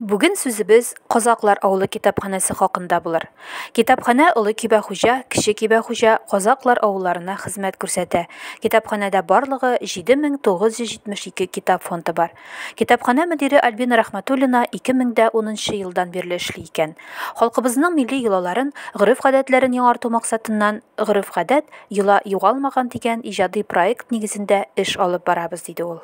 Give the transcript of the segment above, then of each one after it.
Бүген сүзебез Казаклар авылы китапханәсе хакында булыр. Китапханә Олы Кибәхуҗа, Кече Кибәхуҗа, Казаклар авылларына хезмәт күрсәтә. Китапханәдә барлыгы 7972 китап фонды бар. Китапханә мөдире Альбина Рәхмәтуллина 2010 елдан бирле эшли икән. Халкыбызның милли йолаларын, гореф-гадәтләрен яңарту максатыннан Гореф-гадәт, йола югалмаган дигән иҗади проект нигезендә эш алып барабыз, диде ул.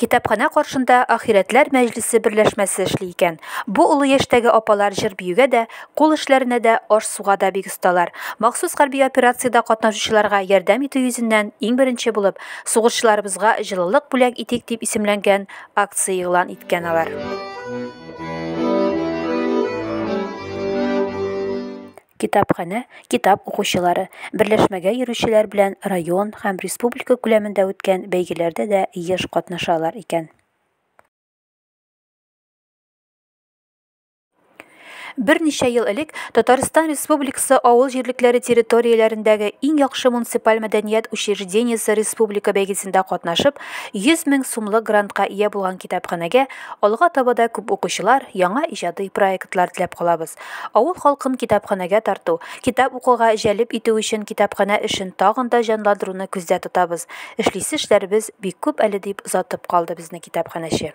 Китапханә каршында Ахирәтләр мәҗлесе берләшмәсе эшли икән. Бу олы яшьтәге апалар җыр-биюгә дә, кул эшләренә дә, аш-суга да бик осталар. Махсус хәрби операциядә катнашучыларга ярдәм итү йөзеннән иң беренче булып Сугышчыларыбызга җылылык бүләк итик дип исемләнгән акция игълан иткән алар. китапханә, китап укучылары, берләшмәгә йөрүчеләр белән район һәм республика күләмендә үткән бәйгеләрдә дә еш катнашалар икән. Берничә ел элек Татарстан Республикасы авыл җирлекләре территорияләрендәге иң яхшы муниципаль мәдәният учреждениесе республика бәйгесендә катнашып, 100 мең сумлык грантка ия булган китапханәгә алга таба да күп укучылар, яңа иҗади проектлар теләп калабыз. Авыл халкын китапханәгә тарту, китап укуга җәлеп итү өчен китапханә эшен тагын да җанландыруны күздә тотабыз. Эшлисе эшләребез бик күп әле, дип озатып калды безне китапханәче.